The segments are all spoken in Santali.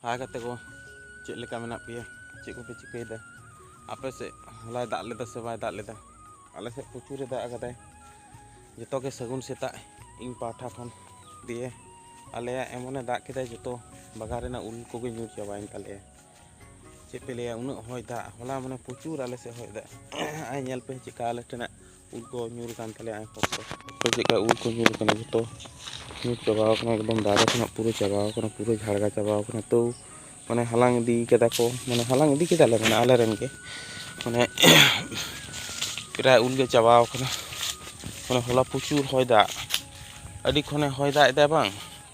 ᱦᱟᱭ ᱠᱟᱛᱮ ᱠᱚ ᱪᱮᱫ ᱞᱮᱠᱟ ᱢᱮᱱᱟᱜ ᱯᱮᱭᱟ ᱪᱮᱫ ᱠᱚᱯᱮ ᱪᱤᱠᱟᱹᱭᱮᱫᱟ ᱟᱯᱮ ᱥᱮᱫ ᱦᱚᱞᱟᱭ ᱫᱟᱜ ᱞᱮᱫᱟ ᱥᱮ ᱵᱟᱭ ᱫᱟᱜ ᱞᱮᱫᱟ ᱟᱞᱮ ᱥᱮᱫ ᱯᱨᱚᱪᱩᱨᱮ ᱫᱟᱜ ᱟᱠᱟᱫᱟᱭ ᱡᱚᱛᱚ ᱜᱮ ᱥᱟᱹᱜᱩᱱ ᱥᱮᱛᱟᱜ ᱤᱧ ᱯᱟᱦᱴᱟ ᱠᱷᱚᱱ ᱫᱤᱭᱮ ᱟᱞᱮᱭᱟᱜ ᱮᱢᱚᱱᱮ ᱫᱟᱜ ᱠᱮᱫᱟᱭ ᱡᱚᱛᱚ ᱵᱟᱜᱟᱱ ᱨᱮᱱᱟᱜ ᱩᱞ ᱠᱚᱜᱮ ᱧᱩᱨ ᱪᱟᱵᱟᱭᱮᱱ ᱛᱟᱞᱮᱭᱟ ᱪᱮᱫ ᱯᱮ ᱞᱟᱹᱭᱟ ᱩᱱᱟᱹᱜ ᱦᱚᱭ ᱫᱟᱜ ᱦᱚᱞᱟ ᱢᱟᱱᱮ ᱯᱨᱚᱪᱩᱨ ᱟᱞᱮ ᱥᱮᱫ ᱦᱚᱭ ᱫᱟᱜ ᱟᱨ ᱧᱮᱞ ᱯᱮ ᱪᱮᱫᱠᱟ ᱟᱞᱮ ᱴᱷᱮᱱᱟᱜ ᱩᱞ ᱠᱚ ᱧᱩᱨ ᱟᱠᱟᱱ ᱛᱟᱞᱮᱭᱟ ᱟᱭᱢᱟ ᱠᱚ ᱪᱮᱫᱠᱟ ᱩᱞ ᱠᱚ ᱧᱩᱨ ᱟᱠᱟᱱᱟ ᱡᱚᱛᱚ ᱧᱩᱨ ᱪᱟᱵᱟ ᱟᱠᱟᱱᱟ ᱮᱠᱫᱚᱢ ᱫᱟᱨᱮ ᱠᱷᱚᱱᱟᱜ ᱯᱩᱨᱟᱹ ᱪᱟᱵᱟ ᱟᱠᱟᱱᱟ ᱯᱩᱨᱟᱹ ᱡᱷᱟᱲᱜᱟ ᱪᱟᱵᱟ ᱟᱠᱟᱱᱟ ᱛᱟᱹᱣ ᱢᱟᱱᱮ ᱦᱟᱞᱟᱝ ᱤᱫᱤ ᱠᱟᱫᱟ ᱠᱚ ᱢᱟᱱᱮ ᱦᱟᱞᱟᱝ ᱤᱫᱤ ᱠᱮᱫᱟᱞᱮ ᱢᱟᱱᱮ ᱟᱞᱮ ᱨᱮᱱ ᱜᱮ ᱢᱟᱱᱮ ᱯᱨᱟᱭ ᱩᱞ ᱜᱮ ᱪᱟᱵᱟ ᱟᱠᱟᱱᱟ ᱢᱟᱱᱮ ᱦᱚᱞᱟ ᱯᱨᱚᱪᱩᱨ ᱦᱚᱭ ᱫᱟᱜ ᱟᱹᱰᱤ ᱠᱷᱚᱱᱮ ᱦᱚᱭ ᱫᱟᱜ ᱮᱫᱟ ᱵᱟᱝ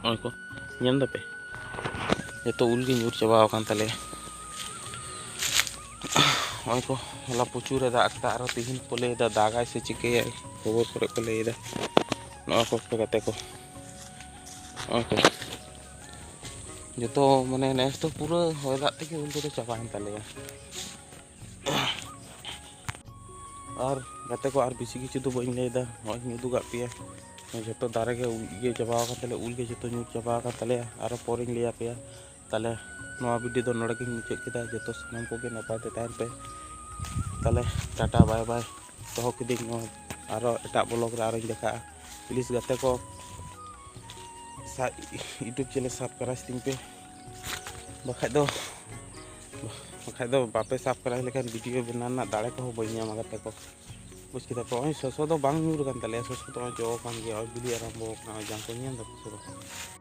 ᱱᱚᱜᱼᱚᱭ ᱠᱚ ᱧᱮᱞ ᱫᱟᱯᱮ ᱡᱚᱛᱚ ᱩᱞ ᱜᱮ ᱧᱩᱨ ᱪᱟᱵᱟ ᱟᱠᱟᱱ ᱛᱟᱞᱮᱭᱟ ᱱᱚᱜᱼᱚᱭ ᱠᱚ ᱦᱚᱞᱟ ᱯᱨᱚᱪᱩᱨ ᱮ ᱫᱟᱜ ᱠᱮᱫᱟ ᱟᱨᱦᱚᱸ ᱛᱤᱦᱤᱧ ᱠᱚ ᱞᱟᱹᱭᱫᱟ ᱫᱟᱜᱟᱭ ᱥᱮ ᱪᱤᱠᱟᱹᱭᱟᱭ ᱠᱷᱚᱵᱚᱨ ᱠᱚᱨᱮ ᱠᱚ ᱞᱟᱹᱭᱫᱟ ᱱᱚᱜᱼᱚᱭ ᱠᱚ ᱜᱟᱛᱮ ᱠᱚ ᱱᱚᱜᱼᱚᱭ ᱠᱚ ᱡᱚᱛᱚ ᱢᱟᱱᱮ ᱱᱮᱥ ᱫᱚ ᱯᱩᱨᱟᱹ ᱦᱚᱭ ᱫᱟᱜ ᱛᱮᱜᱮ ᱩᱞ ᱠᱚᱫᱚ ᱪᱟᱵᱟᱭᱮᱱ ᱛᱟᱞᱮᱭᱟ ᱟᱨ ᱜᱟᱛᱮ ᱠᱚ ᱟᱨ ᱵᱮᱥᱤ ᱠᱤᱪᱷᱩ ᱫᱚ ᱵᱟᱹᱧ ᱞᱟᱹᱭᱫᱟ ᱱᱚᱜᱼᱚᱭ ᱤᱧ ᱩᱫᱩᱜ ᱠᱟᱜ ᱯᱮᱭᱟ ᱡᱚᱛᱚ ᱫᱟᱨᱮ ᱜᱮ ᱤᱭᱟᱹ ᱪᱟᱵᱟ ᱟᱠᱟᱱ ᱛᱟᱞᱮᱭᱟ ᱩᱞ ᱜᱮ ᱡᱚᱛᱚ ᱧᱩᱨ ᱪᱟᱵᱟ ᱟᱠᱟᱱ ᱛᱟᱞᱮᱭᱟ ᱟᱨᱚ ᱯᱚᱨᱮᱧ ᱞᱟᱹᱭ ᱟᱯᱮᱭᱟ ᱛᱟᱦᱚᱞᱮ ᱱᱚᱣᱟ ᱵᱷᱤᱰᱤᱭᱳ ᱫᱚ ᱱᱚᱰᱮ ᱜᱤᱧ ᱢᱩᱪᱟᱹᱫ ᱠᱮᱫᱟ ᱡᱚᱛᱚ ᱥᱟᱱᱟᱢ ᱠᱚᱜᱮ ᱱᱟᱯᱟᱭ ᱛᱮ ᱛᱟᱦᱮᱱ ᱯᱮ ᱛᱟᱦᱚᱞᱮ ᱴᱟᱴᱟ ᱵᱟᱭ ᱵᱟᱭ ᱫᱚᱦᱚ ᱠᱤᱫᱤᱧ ᱱᱚᱣᱟ ᱟᱨᱚ ᱮᱴᱟᱜ ᱵᱞᱚᱜ ᱨᱮ ᱟᱨᱚᱧ ᱫᱮᱠᱷᱟᱜᱼᱟ ᱯᱞᱤᱡᱽ ᱜᱟᱛᱮ ᱠᱚ ᱤᱭᱩᱴᱩᱵᱽ ᱪᱮᱱᱮᱞ ᱥᱟᱵᱥᱠᱨᱟᱭᱤᱵᱽ ᱛᱤᱧ ᱯᱮ ᱵᱟᱠᱷᱟᱡ ᱫᱚ ᱵᱟᱠᱷᱟᱡ ᱫᱚ ᱵᱟᱯᱮ ᱥᱟᱵᱥᱠᱨᱟᱭᱤᱵᱽ ᱞᱮᱠᱷᱟᱱ ᱵᱷᱤᱰᱤᱭᱳ ᱵᱮᱱᱟᱣ ᱨᱮᱱᱟᱜ ᱫᱟᱲᱮ ᱠᱚᱦᱚᱸ ᱵᱟᱹᱧ ᱧᱟᱢᱟ ᱜᱟᱛᱮ ᱠᱚ ᱵᱩᱡᱽ ᱠᱮᱫᱟ ᱯᱮ ᱱᱚᱜᱼᱚᱭ ᱥᱚᱥᱚ ᱫᱚ ᱵᱟᱝ ᱧᱩᱨ ᱠᱟᱱ ᱛᱟᱞᱮᱭᱟ ᱥᱚᱥᱚ ᱫᱚ ᱱᱚᱜᱼᱚᱭ ᱡᱚ ᱠᱟᱱ ᱜᱮᱭᱟ ᱱᱚᱜᱼᱚᱭ ᱵᱤᱞᱤ ᱟᱨᱟᱢᱵᱚ ᱠᱟᱱᱟ ᱱᱚᱜᱼᱚᱭ ᱡᱟᱝ ᱠᱚ ᱧᱮᱞ ᱫᱟᱯᱮ ᱥᱮ ᱵᱟᱝ